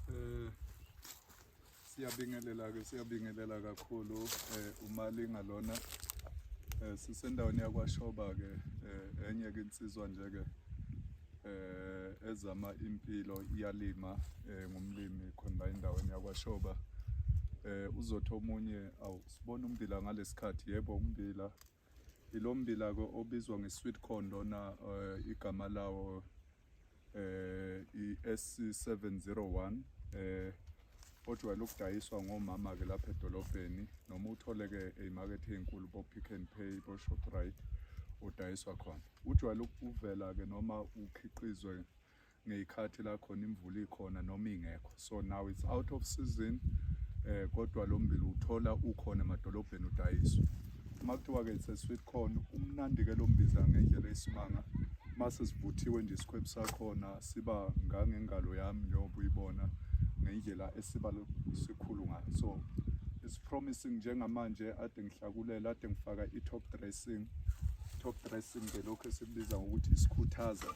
Eh, siyabingelela ke siyabingelela kakhulu eh umalinga lona eh sisendaweni yakwashoba ke eh, enye ke insizwa nje ke eh ezama impilo iyalima eh, ngumlimi khona endaweni yakwashoba eh uzotha omunye awu Sibona ummbila ngalesikhathi yebo ummbila ilo mbila ke obizwa nge-sweet corn lona eh, igama lawo eh i-SC701 eh ojwayele ukudayiswa ngomama ke lapha edolobheni noma uthole ke ezimakethe ezinkulu bo Pick n Pay bo Shoprite udayiswa khona ujwayele ukuvela ke noma ukhiqizwe ngeyikhathi la khona imvula ikhona noma ingekho so now it's out of season eh kodwa lo mbila uthola ukhona emadolobheni udayiswa uma kuthiwa ke it's a sweet corn umnandi ke lo mbiza ngendlela esimanga mase sivuthiwe nje isikhwebu sakhona siba ngangengalo yami njengoba uyibona ngendlela esiba sikhulu ngayo so it's promising njengamanje ade ngihlakulela ade ngifaka i-top dressing top dressing ke lokho esikubiza ngokuthi isikhuthaza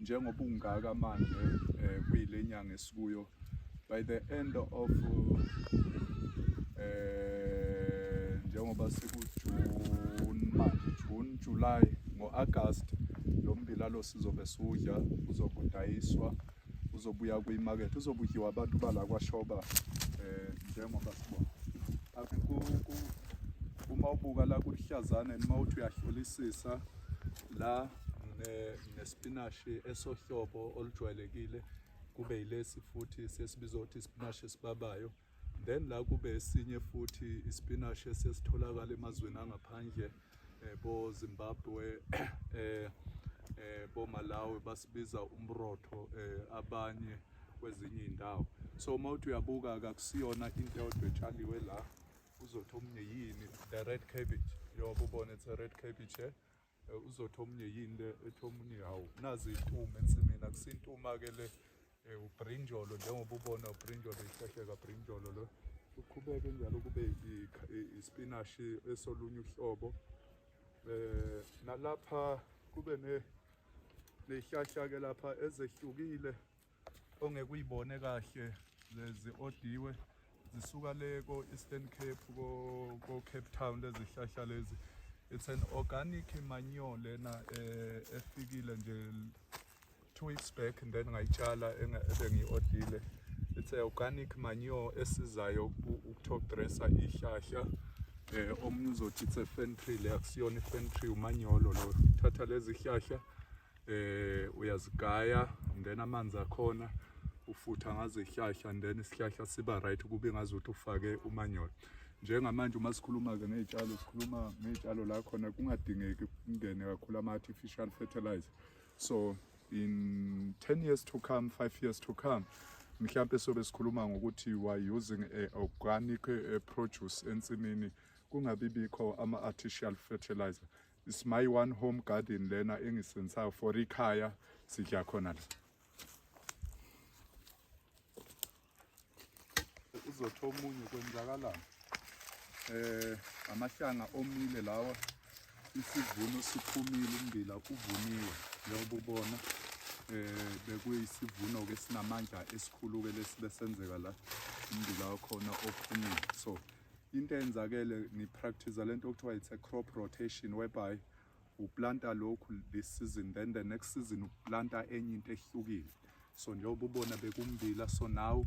njengoba ungaka manje eh, kuyile nyanga esikuyo by the end of eh njengoba siku June manje June July ngoAugust lo mbila lo sizobe sudla uzokudayiswa uzobuya kwimarket uzobudliwa abantu bala kwaShoba eh njengoba sibona uma ubuka la kulihlazane noma uthi uyahlolisisa la nespinashi esohlobo olujwayelekile kube yilesi futhi sesibiza ukuthi isipinashi esibabayo then la kube esinye futhi isipinashi esesitholakala emazweni angaphandle eh, bo Zimbabwe eh, eh, bo Malawi basibiza umrotho eh, abanye kwezinye indawo so uma uthi uyabuka kakusiyona into eyodwa etshaliwe la uzothi omunye yini the red cabbage yoba ubone it's a red cabbage eh? Eh, uzothi omunye yini le ethi omunye hawu nazi iy'nkume ensimini akusintuma-ke le eh, ubrinjolo njengoba ubona ubrinjolo ihlahleka brinjolo lo uqhubeke njalo kube ispinashi esolunye uhlobo eh nalapha kube ne nehlahla ke lapha ezehlukile ongeke uyibone kahle lezi odiwe zisuka le ko-eastern cape ko-cape town lezihlahla lezi it's an organic manure lena eh, efikile nje two weeks back then ngayitshala ebengiyi-odile it's a organic manure esizayo ukutop dressa ihlahla um eh, omunye uzothi it's a fentree le akusiyona ifentree umanyolo lo thatha lezi hlahla eh uyazigaya then amanzi akhona ufutha ngazo ihlahla then isihlahla siba right kube ngazi ukuthi ufake umanyolo njengamanje uma sikhuluma-ke ngey'tshalo sikhuluma ngey'tshalo la khona kungadingeki kungene kakhulu ama-artificial fertilizer so in 10 years to come 5 years to come mhlawumpe sobe sikhuluma ngokuthi you are using a organic eh, produce ensimini kungabi bikho ama-artificial fertilizer It's my one home garden lena engisensayo for ikhaya sidla khona la. Uzotho omunye kwenzakalani? Eh amahlanga omile lawa isivuno siphumile umbila uvuniwe njengoba ubona eh bekuyisivuno ke sinamandla esikhulu ke lesibesenzeka la umbila wakhona ophumile so into eyenzakele ngipractice lento okuthiwa it's a crop rotation whereby uplanta lokhu this season then the next season uplanta enye into ehlukile so njengoba ubona bekumbila so now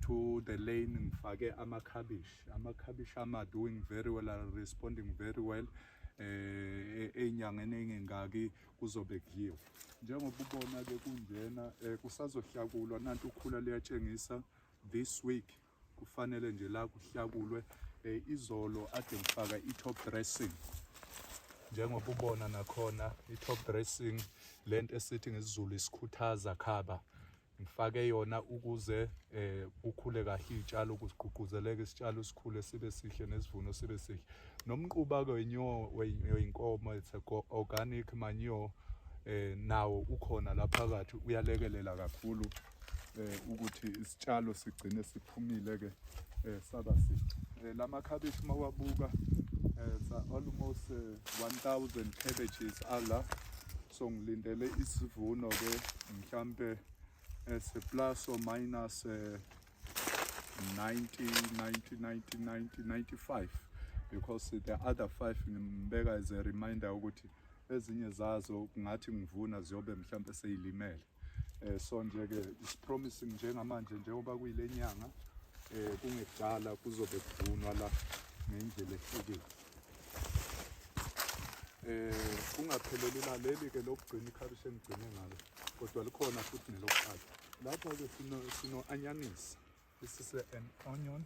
to the lane ngifake amakhabishi amakhabishi ama doing very well are responding very well eh enyangeni engengaki kuzobe kudliwa njengoba ubona ke kunjena eh, kusazohlakulwa nanti ukhula liyatshengisa this week kufanele nje la kuhlakulwe eh, izolo ade ngifaka i-top dressing njengoba ubona nakhona i-top dressing le nto esithi ngesiZulu isikhuthaza khaba ngifake yona ukuze eh kukhule kahle izitshalo ukugqugquzeleke isitshalo sikhule sibe sihle nesivuno sibe sihle nomquba ke wenyowo weyinkomo it's organic manure eh nawo ukhona lapha kathi uyalekelela kakhulu eh, ukuthi isitshalo sigcine siphumile ke eh, saba si eh, la makhabishi uma wabuka eh, sa almost eh, 1000 cabbages ala so ngilindele isivuno ke mhlambe eh, se plus or minus eh, 90 90 90 90 95 because the other five ngimbeka as a reminder ukuthi ezinye zazo kungathi ngivuna ziyobe mhlawumbe seyilimele eh so nje ke is promising njengamanje njengoba kuyile nyanga eh kungekudala kuzobe kuvunwa la ngendlela ehlukile eh kungapheleli la leli ke lokugcina ikhabishi engigcine ngalo kodwa likhona futhi nelokuqala lapha ke sino sino anyanisi This is an onion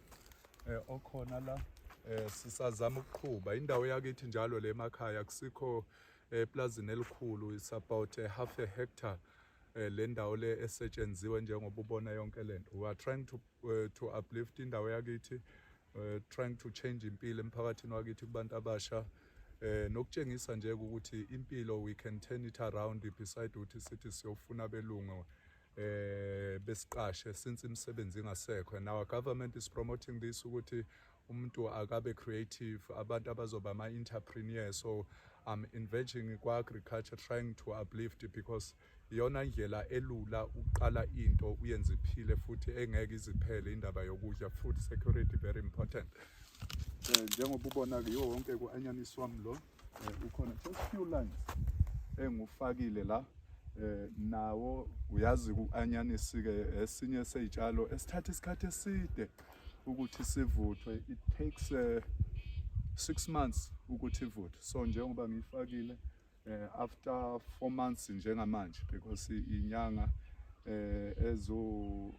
eh okhona la eh sisazama ukuqhuba indawo yakithi njalo le emakhaya kusikho eplazini eh, elikhulu is about a half a hectare eh, le ndawo le esetshenziwe njengoba ubona yonke lento we are trying to uh, to uplift indawo yakithi uh, trying to change impilo emphakathini wakithi kubantu abasha eh nokutshengisa nje ukuthi impilo we can turn it around beside ukuthi sithi siyofuna belungu eh besiqashe since imisebenzi ingasekho and our government is promoting this ukuthi umuntu akabe creative abantu abazoba ama entrepreneur so i'm engaging kwa agriculture trying to uplift because iyona ndlela elula uqala into uyenze iphile futhi engeke iziphele indaba yokudla food security very important eh, njengoba ubona ke wonke ku anyaniswa mlo eh, ukhona just few lines engufakile la eh nawo uyazi uanyanisi ke esinye sezitshalo esithatha isikhathi eside ukuthi sivuthwe it takes 6 eh, months ukuthi ivuthwe so njengoba ngiyifakile eh after 4 months njengamanje because inyanga eh ezo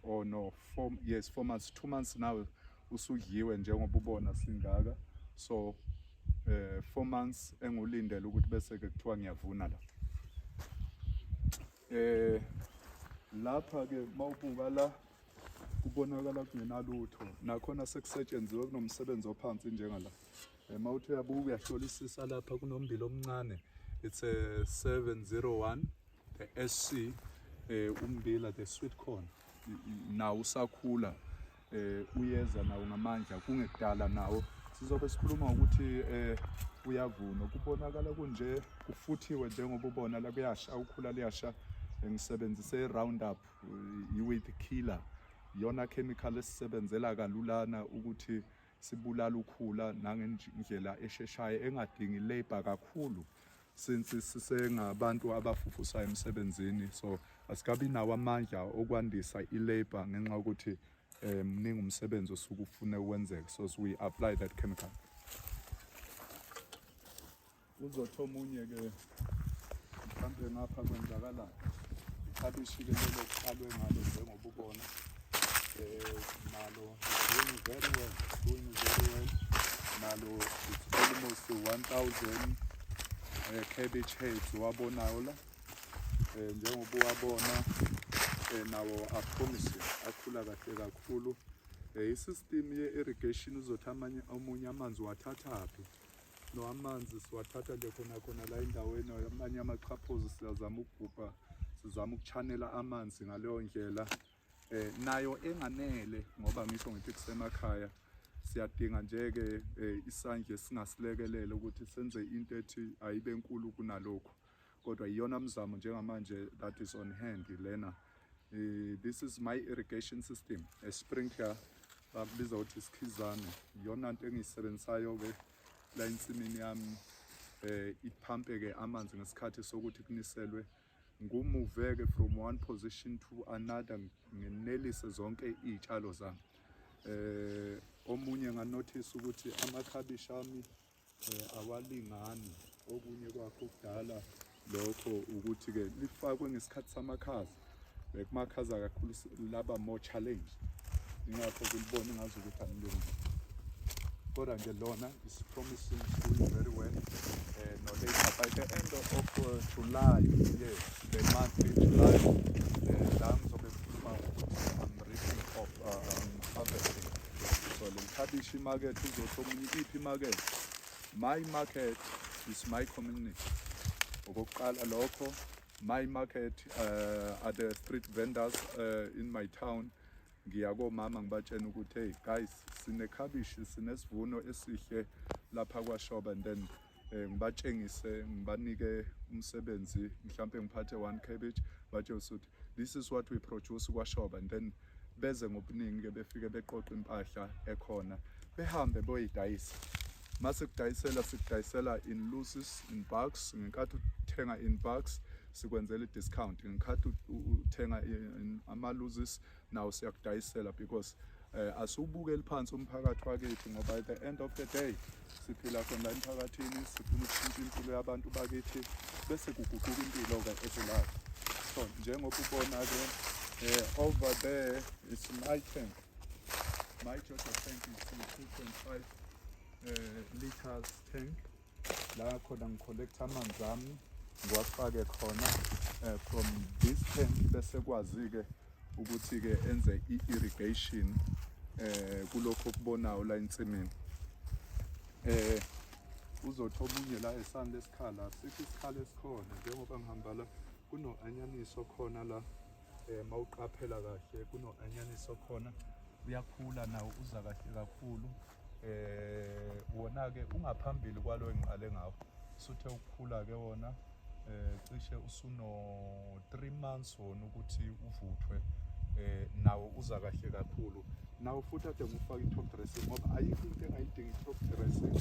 oh no 4 yes 4 months 2 months now usudliwe njengoba ubona singaka so eh four months engulindele ukuthi bese ke kuthiwa ngiyavuna la eh lapha ke mawubuka la kubonakala kungenalutho nakhona sekusetshenziwe kunomsebenzi ophansi njengala eh, mawuthi uyabuka uyahlolisisa lapha kunombili omncane it's a 701 the SC eh umbila the sweet corn nawo usakhula eh uyeza nawo ngamandla kungekudala nawo sizobe sikhuluma ukuthi eh uyavuna kubonakala kunje kufuthiwe njengoba ubona la kuyasha ukhula liyasha ngisebenzise i-roundup i-weed killer yona chemical esisebenzela kalulana ukuthi sibulala ukhula nangendlela esheshayo engadingi labor kakhulu since sisengabantu abafufusayo emsebenzini so asikabi nawo amandla okwandisa ilabor ngenxa yokuthi eh, mningi umsebenzi osuke ufune ukwenzeka so we apply that chemical Uzothi omunye ke mhlampe ngapha kwenzakalani ikhabishi ke lelo kuqalwe ngalo njengoba ubona um nalo doing very well doing very well nalo it's almost 1000 um eh, cabbage heads wabonayo la um njengoba uwabona um nawo apromise akhula kahle kakhulu um isystem ye-irrigation uzothi amanye omunye amanzi wathathaphi no amanzi siwathatha nje khona khona la endaweni amanye amachaphozi siyazama ukugubha sizama ukuchanela amanzi ngaleyo ndlela eh nayo enganele ngoba ngisho ngithi kusemakhaya siyadinga nje ke eh, isandla singasilekelele ukuthi senze into ethi ayibe nkulu kunalokho kodwa iyona mzamo njengamanje that is on hand lena uh, this is my irrigation system a sprinkler bakubiza ukuthi isikhizane iyona nto engiyisebenzisayo-ke la ensimini yami um eh, iphampe-ke amanzi ngesikhathi sokuthi kuniselwe ngumuveke from one position to another nginelise zonke iy'tshalo zami um omunye nganothisa ukuthi amakhabishi ami Eh, awalingani okunye kwakho kudala lokho ukuthi-ke lifakwe ngesikhathi samakhaza bekumakhaza kakhulu laba more challenge ingakho kulibona ngazi ukuthi anilungile kodwa nje lona is promising school very well eh, no later by the end of uh, july yes the month in july eh, la ngizobe ngikhuluma ukuthi i'm reaching off Kabishi market uzothi omunye iphi market my market is my community okokuqala lokho my market uh, are the street vendors uh, in my town ngiya komama ngibatshena ukuthi hey guys sinekhabishi sinesivuno esihle lapha kwashoba and then eh, ngibatshengise ngibanike umsebenzi mhlawumpe ngiphathe one cabbage batshengise ukuthi this is what we produce kwashoba and then beze ngobuningi ke befike beqoqa impahla ekhona behambe boyidayisa mase kudayisela sikudayisela in loses in bucks ngenkathi uthenga in bucks sikwenzela i-discount ngikhathi uthenga ama-loses nawo siyakudayisela because eh asiwubuke liphansi umphakathi wakithi ngoba at the end of the day siphila khona emphakathini sifuna ukushintsha impilo yabantu bakithi bese kuguquka impilo ke ezilayo so njengoba ubona ke eh over there is my tank my total tank is 2.5 uh, eh, liters tank la khona ngicollecta amanzi ami ngiwafake khona eh, from this tank bese kwazi-ke ukuthi-ke enze i-irrigation eh kulokho okubonayo la ensimini eh uzothi omunye la esani lesikhala sikho isikhala esikhona njengoba ngihamba la kuno-anyanisi okhona la eh mawuqaphela kahle kuno-anyanisi okhona uyakhula nawo uza kahle kakhulu eh wona ke ungaphambili kwalo engiqale ngawo suthe ukukhula ke wona eh cishe usuno 3 months wona ukuthi uvuthwe eh nawo uza kahle kakhulu nawo futhi ade ngifaka i-top dressing ngoba ayikho into engayidingi i-top dressing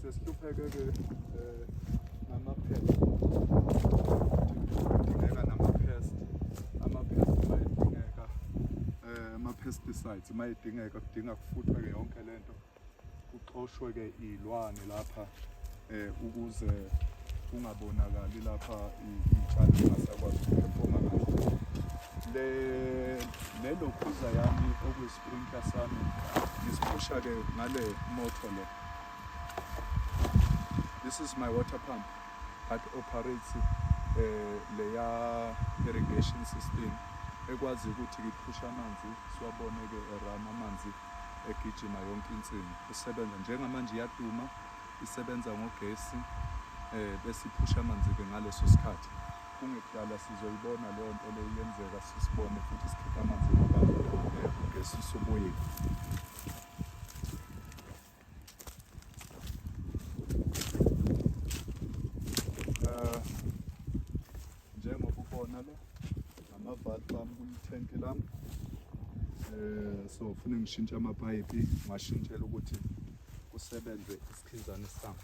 sesihlupheke ke eh namaphela dingeka namaphela amapesticide Uma idingeka kudinga kufuthwe-ke yonke le nto kuxoshwe-ke iy'lwane lapha um ukuze kungabonakali lapha iy'tshalo zingasakwazi ukuphefoma kahle le le lokhuza yami okuyisprinkla sami ngisiphusha-ke ngale motor le this is my water pump but operates eh leya irrigation system ekwazi ukuthi ngiphusha amanzi siwabone ke erama amanzi egijima yonke insimi usebenza njengamanje iyaduma isebenza ngogesi eh bese iphusha amanzi ke ngaleso sikhathi kungekudala sizoyibona leyo nto leyo yenzeka sisibone futhi sikhipha amanzi ngaphandle ngesi soboyeni Eh, njengoba ubona lo amavali bami kulithenki lami um so fune ngishintshe amapayipi ngashintshela ukuthi kusebenze isikhinzane sami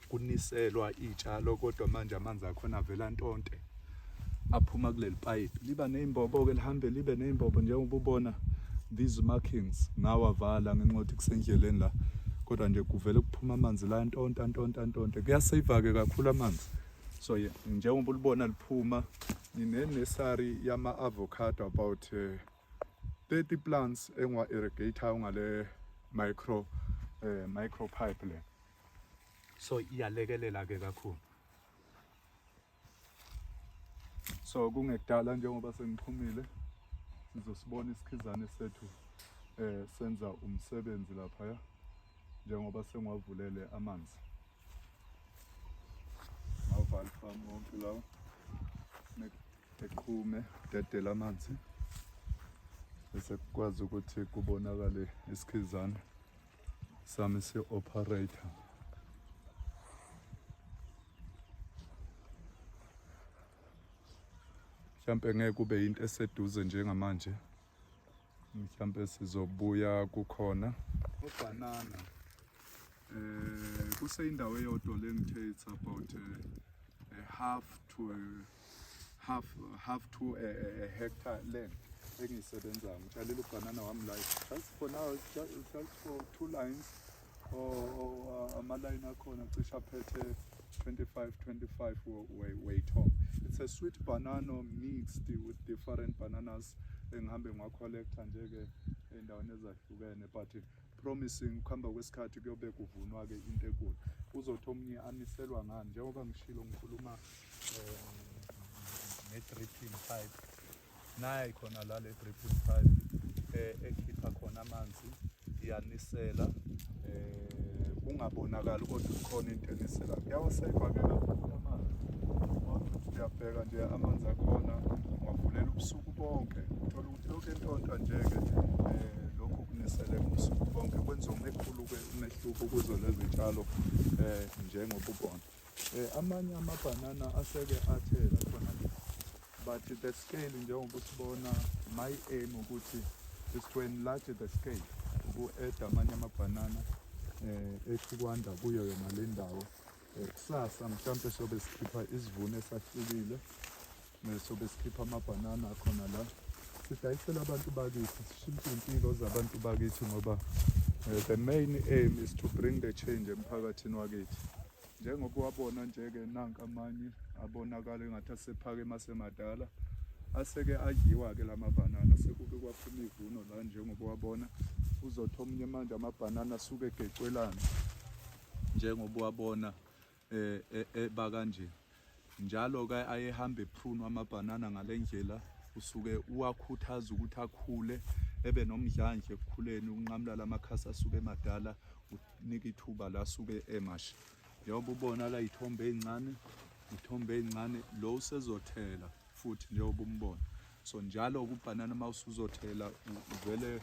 kuniselwa iy'tshalo kodwa manje amanzi akhona avela ntonte aphuma kuleli payipi liba ney'mbobo-ke lihambe libe ney'mbobo njengoba ubona these markings ngawavala ngenxa yokuthi kusendleleni la kodwa nje kuvele kuphuma amanzi la ntonta ntonta ntonta kuyaseyivake kakhulu amanzi so ye njengoba ulibona liphuma nginenesari yama-avocado about um uh, 30 plants engiwa-irrigator ngale micro um uh, micro pipe le so iyalekelela ke kakhulu so kungekudala njengoba sengixhumile sizosibona isikhizane sethu eh senza umsebenzi lapha ya njengoba sengiwavulele amanzi ngawuvala farm wonke lawo eqhume dedela amanzi bese kukwazi ukuthi kubonakale isikhizana sami si-operator mhlampe ngeke kube yinto eseduze njengamanje mhlampe sizobuya kukhona ubhanana eh kuseyindawo eyodwa le ngithe it's about a, eh, a half to a half half to a, a, a hectare land engisebenza ngitshalile ubhanana wami la just for now just for two lines or, or uh, amalayini akhona cishe aphethe 25 25 weight home it's a sweet banana mixed with different bananas engihambe ngiwacollecta nje-ke ey'ndaweni ezahlukene but promising ukuhamba kwesikhathi kuyobe kuvunwa-ke into enkulu uzothi omunye aniselwa ngani njengoba ngishilo ngikhuluma um ne-dripping pipe naye khona la le dripping pipe eh, ekhipha khona amanzi iyanisela um kungabonakali kodwa ukhona into enisela kuyawaseyiva-ke kakhulu amanzi uyabheka nje amanzi akhona ungavulela ubusuku bonke Lokhu entontwa nje-ke um lokhu kunisele ubusuku bonke kwenza umehluko-ke umehluko kuzo lezi tshalo um njengoba ubona um amanye amabhanana aseke athela khona le but the scale njengoba usibona my aim ukuthi is to enlarge the scale uku-eda amanye amabhanana um ethi kwanda kuyo yona le ndawo Kusasa mhlampe sobe sikhipha isivuno esahlukile sobe sikhipha amabhanana akhona la sidayisela abantu bakithi sishintshe impilo zabantu bakithi ngoba eh, the main aim is to bring the change emphakathini wakithi njengoba wabona nje-ke nanka amanye abonakala engathi asephake masemadala aseke adliwa-ke la mabhanana sekuke kwaphuma ivuno la njengoba wabona uzothi omunye manje amabhanana asuke egecwelana njengoba wabona eh, eh, eba kanje njalo ke ayehamba ephunwa amabhanana ngalendlela usuke uwakhuthaza ukuthi akhule ebe nomdlandla ekukhuleni unqamula lamakhasi asuke emadala unika ithuba la suke emasha njengoba ubona la ithombe ezincane ithombe ezincane lo usezothela futhi njengoba umbona so njalo kubhanana uma usuzothela uvele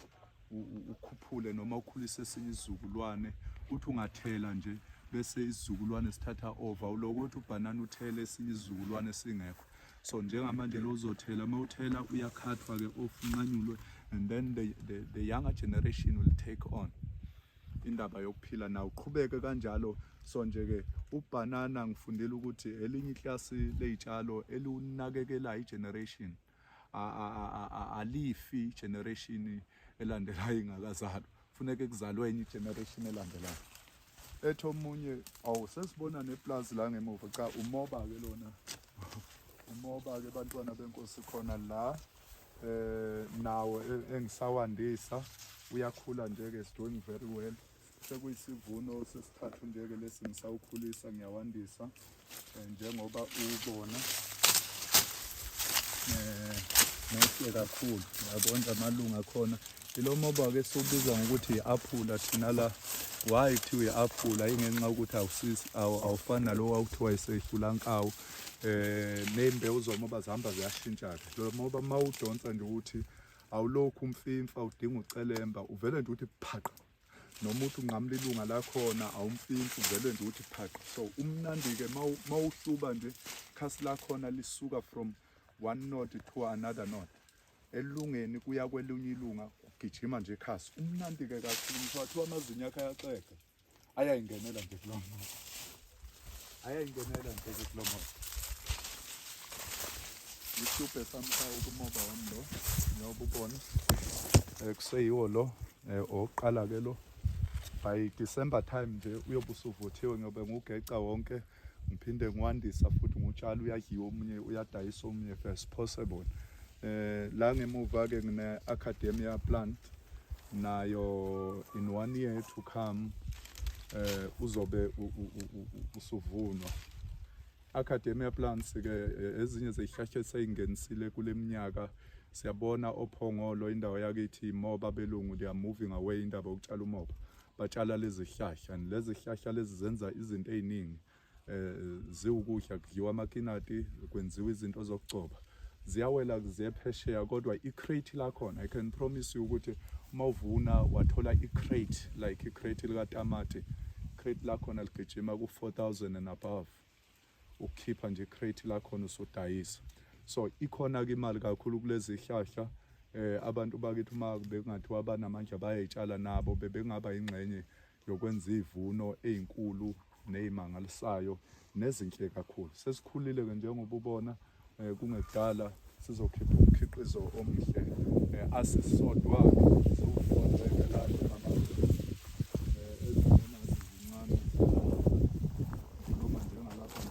ukhuphule noma ukhulise esinye isizukulwane uthi ungathela nje bese isizukulwane sithatha over uloko ukuthi ubhanana uthele esinye isizukulwane singekho so njengamanje lo uzothela uma uthela uyakhathwa ke off unqanyulwe and then the, the, the younger generation will take on indaba yokuphila nawo uqhubeke kanjalo so nje ke ubhanana ngifundile ukuthi elinye iklasi leyitshalo eliwunakekelayo igeneration generation alifi generation elandelayo ingakazalwa funeke kuzalwe enye generation elandelayo ethi omunye awu sesibona neplazi la ngemuva cha umoba-ke lona umoba-ke bantwana benkosi khona la eh nawo e, engisawandisa uyakhula nje-ke is doing very well sekuyisivuno sesithathu njeke lesi ngisawukhulisa ngiyawandisa eh, njengoba ubona eh, nohle kakhulu yabona amalunga akhona ilo moba ke siwubiza ngokuthi yi-aphula thina la why kuthiwa yi-aphula ingenxa yokuthi awufani nalo wawuthiwa yiseyifulankawu um eh, ney'mbewu zomoba zihamba ziyashintsha-ke lo moba uma udonsa nje ukuthi awulokhu umfimfa udinga ucelemba uvele nje ukuthi phaqa noma uthi unqamula ilunga lakhona awumfinsi uvele nje uthi phaqa so umnandi-ke ma uhluba nje khasi lakhona lisuka from one note to another note elungeni kuya kwelunye ilunga kugijima nje khasi umnandi-ke kakhulu ngisho wathiwa amazinyo akhe ayaxega ayayingenela nje kulo mntu ayayingenela nje kulo moba isitubhe sami sawo kumoba wami lo njengoba ubona um eh, kuseyiwo lo um owokuqala-ke lo by december time nje uyobe usuvuthiwe ngobe ngugeca wonke ngiphinde ngiwandisa futhi ngutshala uyadliwa omunye uyadayisa omunye first possible eh la ngemuva-ke ngine-academia plant nayo in one year to come eh uzobe usuvunwa academia plants ke eh, ezinye zezihlahla eseyingenisile kuleminyaka siyabona ophongolo indawo yakithi moba belungu they are moving away indaba yokutshala umoba batshala lezi zihlahla lezi zihlahla lezi zenza izinto eziningi eh ziwukudla kudliwa amakinati kwenziwa izinto zokugcoba ziyawela ziyephesheya kodwa i-crate lakhona i can promise you ukuthi uma uvuna wathola i-crate like i-crate likatamati crate lakhona ligijima ku-4000 and above ukukhipha nje i-crate lakhona usudayisa so ikhona-ke imali kakhulu kulezi hlahla eh abantu bakithi uma bekungathiwa banamandla bayayitshala nabo bebengaba yingxenye yokwenza izivuno ezinkulu nezimangalisayo nezinhle kakhulu. Sesikhulile ke njengoba ubona eh, kungekudala sizokhipha umkhiqizo omuhle eh, asisodwa siwufunda evelaphi mama eh, ezibonazi zincane noma njengalapha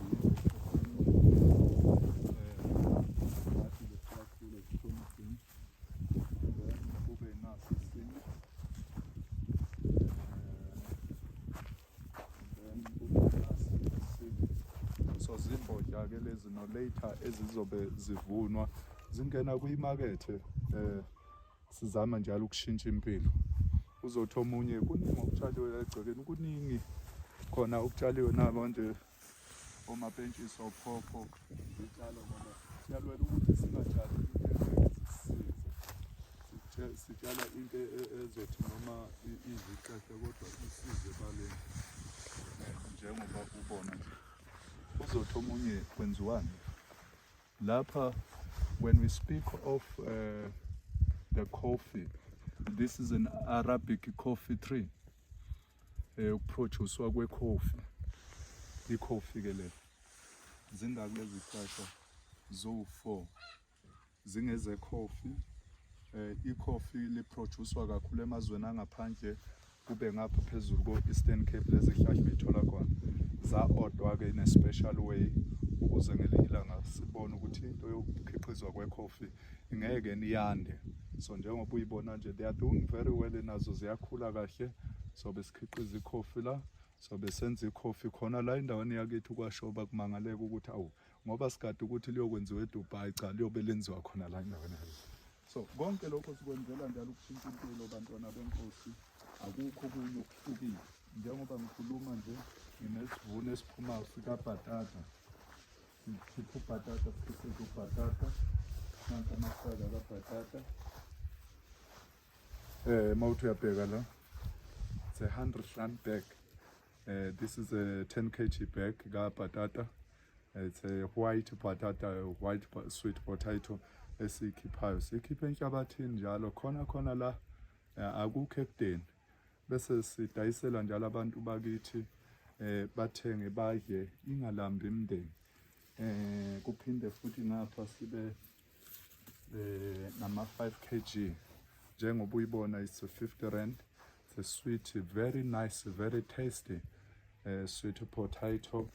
so zimbodla ke lezi no later ezizobe zivunwa zingena kwimakethe eh sizama njalo ukushintsha impilo uzothi omunye kuningi okutshaliwe egcekeni kuningi khona okutshaliwe nabo nje omapentshisi ophopho zitshalo ngoba siyalwela ukuthi singatshali sitshala into e, e, ezothi noma iziqehle kodwa isize baleni njengoba ubona nje uzothi omunye kwenziwani lapha when we speak of uh, the coffee this is an arabic coffee tree eh ukuproducewa kwekhofi ikhofi ke le zingaki lezi zihlahla zo-4 zingezekhofi eh ikhofi liproducewa kakhulu emazweni angaphandle kube ngapha phezulu ko-eastern cape lezi zihlahla beyithola khona za-odwa-ke in a special way ukuze ngelinye ilanga sibone ukuthi into yokukhiqizwa kwekhofi ingeke niyande so njengoba uyibona nje they are doing very well nazo ziyakhula kahle so besikhiqiza ikhofi la so besenza ikhofi khona la endaweni yakithi kwashoba kumangaleka ukuthi awu ngoba sigade ukuthi liyokwenziwa eDubai cha liyobe lenziwa khona la endaweni yakithi so konke lokho sikwenzela njalo ukushintsha impilo bantwana benkosi akukho kunye okuhlukile njengoba ngikhuluma nje nginesivuno esiphumayo sikabhatata Sikhipha ubhatata, sikhiqiza ubhatata. Nanka amasaka kabhatata. Eh, mawuthi uyabheka la. It's a 100 rand bag. Uh, this is a 10 kg bag ka patata. It's a white patata, white sweet potato esikhiphayo. Sikhiphe enhlabathini njalo khona khona la eh, akukho ekudeni. bese sidayisela njalo abantu bakithi eh bathenge badle ingalambi imndeni eh kuphinde futhi ngapha sibe eh nama 5 kg njengoba uyibona is 50 rand it's a sweet very nice very tasty eh sweet potato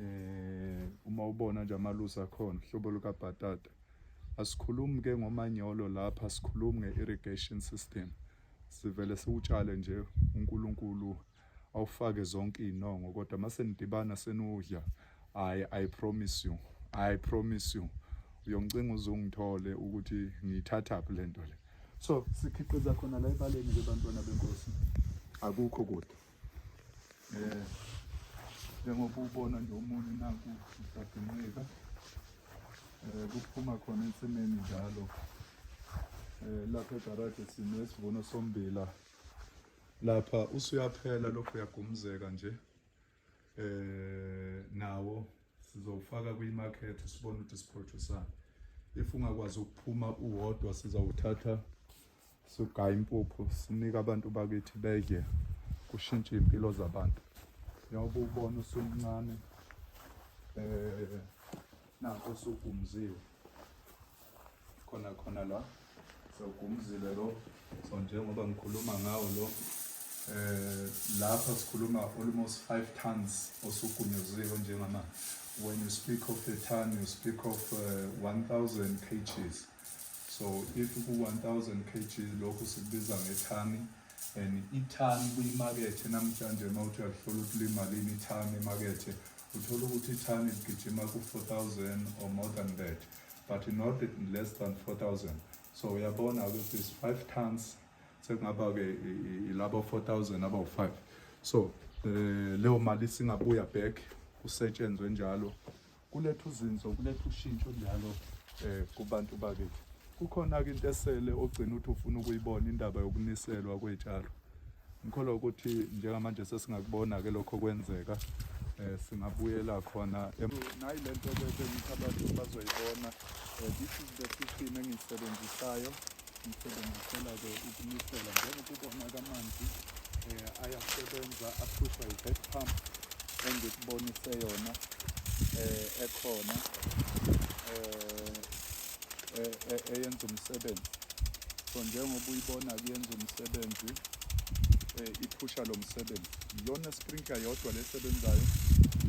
eh uma ubona nje amaluza khona hlobo luka bhatata asikhulumi ke ngomanyolo lapha sikhulumi nge irrigation system sivele siwutshale nje uNkulunkulu awufake zonke izinongo kodwa mase nidibana senudla i i promise you i promise you uyongicinga uzongithole ukuthi ngiyithatha phi lento le so sikhiqiza khona la ebaleni ke bantwana benkosi akukho kude Eh njengoba ubona nje omunye naku usadinqika eh kuphuma khona ensimini njalo eh lapha egarage sine sivuno sombila lapha usuyaphela lokho uyagumuzeka nje eh nawo sizowufaka kwimarket sibone ukuthi siproducani if ungakwazi ukuphuma uwodwa sizawuthatha sigaya impuphu sinike abantu bakithi bedle kushintshe iy'mpilo zabantu njengoba ubona usumncane um eh, nakho usugumziwe khona khona la sewugumzile lo so njengoba ngikhuluma ngawo lo eh lapha sikhuluma almost 5 tons osugunyaziwe njengama when you speak of a ton you speak of uh, eh, 1000 kgs so if ku 1000 kgs lokho sikubiza ngethani and ithani kuyimakethe namhlanje uma uthi uyalihlola ukuthi limalini ithani emakethe uthola ukuthi ithani ligijima ku-4000 or more than that but not less than 4000 so uyabona ukuthi is 5 tons sekungaba-ke ilabo 4000 abawu-5 so um leyo mali singabuya back kusetshenzwe njalo kuletha uzinzo kuletha ushintsho njalo um kubantu bakethu kukhona-ke into esele ogcina ukuthi ufuna ukuyibona indaba yokuniselwa kwey'tshalo ngikholwa ukuthi njengamanje sesingakubona-ke lokho kwenzeka um singabuyela khona nayi le nto ke bengithi abantu bazoyibona um this is the system engiyisebenzisayo ngisebenzisela-ke ukunisela njengokubona kamanzi um eh, ayasebenza aphushwa yi-head pump engikubonise yona um ekhona um e, e, eyenza umsebenzi so njengoba uyibona kuyenza umsebenzi e, iphusha lo msebenzi iyona sprinkler yodwa lesebenzayo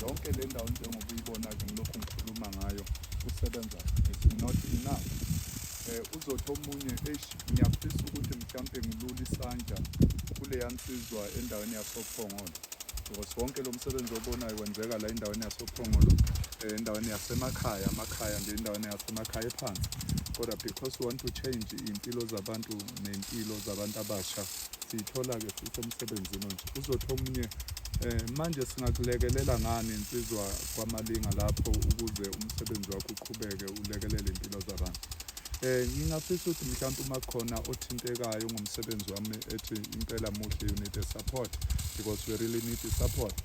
yonke le ndawo njengoba uyibona ke ngilokhu ngikhuluma ngayo usebenza is not enough um uzothi omunye eish ngiyafisa ukuthi mhlawumpe ngilule isandla kuleya nsizwa endaweni yasophongolo because wonke lo msebenzi obonayo wenzeka la endaweni yasophongolo eh, endaweni yasemakhaya amakhaya nje endaweni yasemakhaya ephansi kodwa because we want to change iy'mpilo zabantu ney'mpilo zabantu abasha siyithola-ke futhi emsebenzini onje uzothi omunye um manje singakulekelela ngani insizwa kwamalinga lapho ukuze umsebenzi wakho uqhubeke ulekelele iy'mpilo zabantu Eh ngingafisa ukuthi mhlawumbe uma khona othintekayo ngomsebenzi wami ethi impela muhle you need a support because we really need a support.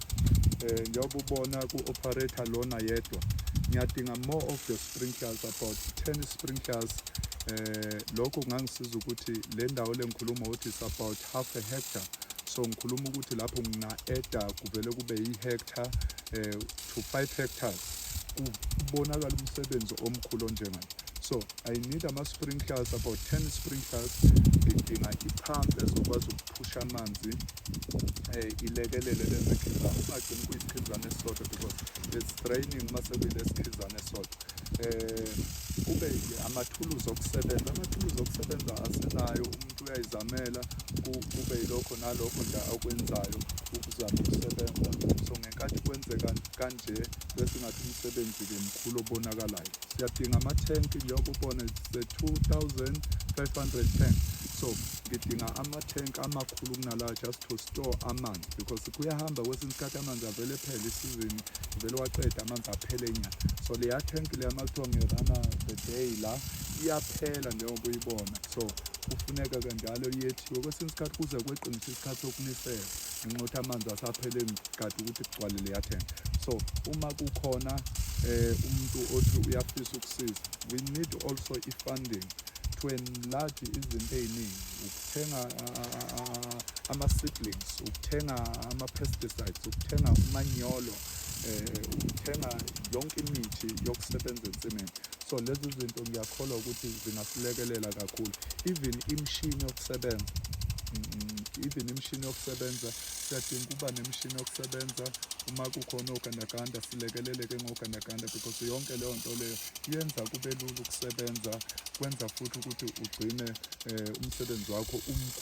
Eh njengoba ubona ku operator lona yedwa ngiyadinga more of the sprinklers about 10 sprinklers eh lokho kungangisiza ukuthi le ndawo lengikhuluma ukuthi is about half a hectare so ngikhuluma ukuthi lapho ngina-eda kuvele kube yi-hectare um to 5 hectares kubonakala umsebenzi omkhulu onjengalo so i need ama-sprinklers about 10 sprinklers ngidinga iphampu ezokwazi ukuphusha amanzi um ilekelele lenze khizana ungagcini kuyikhizana esisodwa because it's draining uma sekuyile sikhizana esisodwa um kube amathuluzi okusebenza amathuluzi okusebenza asenayo umuntu uyayizamela kube yilokho nalokho nje akwenzayo ukuzama ukusebenza so ngenkathi kwenzeka kanje bese ngathi umsebenzi-ke mkhulu obonakalayo siyadinga amathenki njengoba ubona se-2500 tank so ngidinga amathenki amakhulu kunalawa just to store amanzi because kuyahamba kwesinye isikhathi amanzi avele phele isizini vele waqeda amanzi aphele nya so leya thenki leya makuthiwa ngerana the day la iyaphela njengoba uyibona So, kufuneka kanjalo yethiwe kwesinye isikhathi kuze kweqinisa isikhathi sokunisela ngenxa ukuthi amanzi asaphele kade ukuthi kugcwale leyathenga so uma kukhona eh umuntu othi uyafisa ukusiza we need also i-funding to enlarge izinto ey'ningi ukuthenga ama-siblings ukuthenga ama-pesticides ukuthenga umanyolo ukuthenga yonke imithi yokusebenza ensimini so lezi zinto ngiyakholwa ukuthi zingasilekelela kakhulu even imishini yokusebenza even imishini yokusebenza siyadinga ukuba nemishini yokusebenza uma kukhona ogandaganda silekeleleke ngogandaganda because yonke leyo nto leyo yenza kube lula ukusebenza kwenza futhi ukuthi ugcine um umsebenzi wakho umkhulu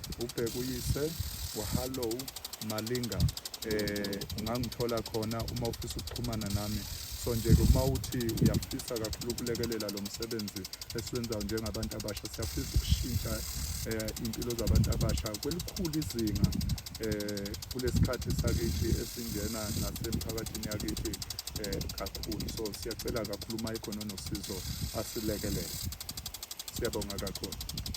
ubheka uyise wahallow malinga eh ungangithola khona uma ufisa ukuxhumana nami so nje ke uma uthi uyafisa kakhulu ukulekelela lo msebenzi esiwenzayo njengabantu abasha siyafisa ukushintsha eh impilo zabantu abasha kwelikhulu izinga eh kulesikhathi sakithi esingena nasemphakathini yakithi eh kakhulu so siyacela kakhulu uma ikhona nosizo asilekelele siyabonga kakhulu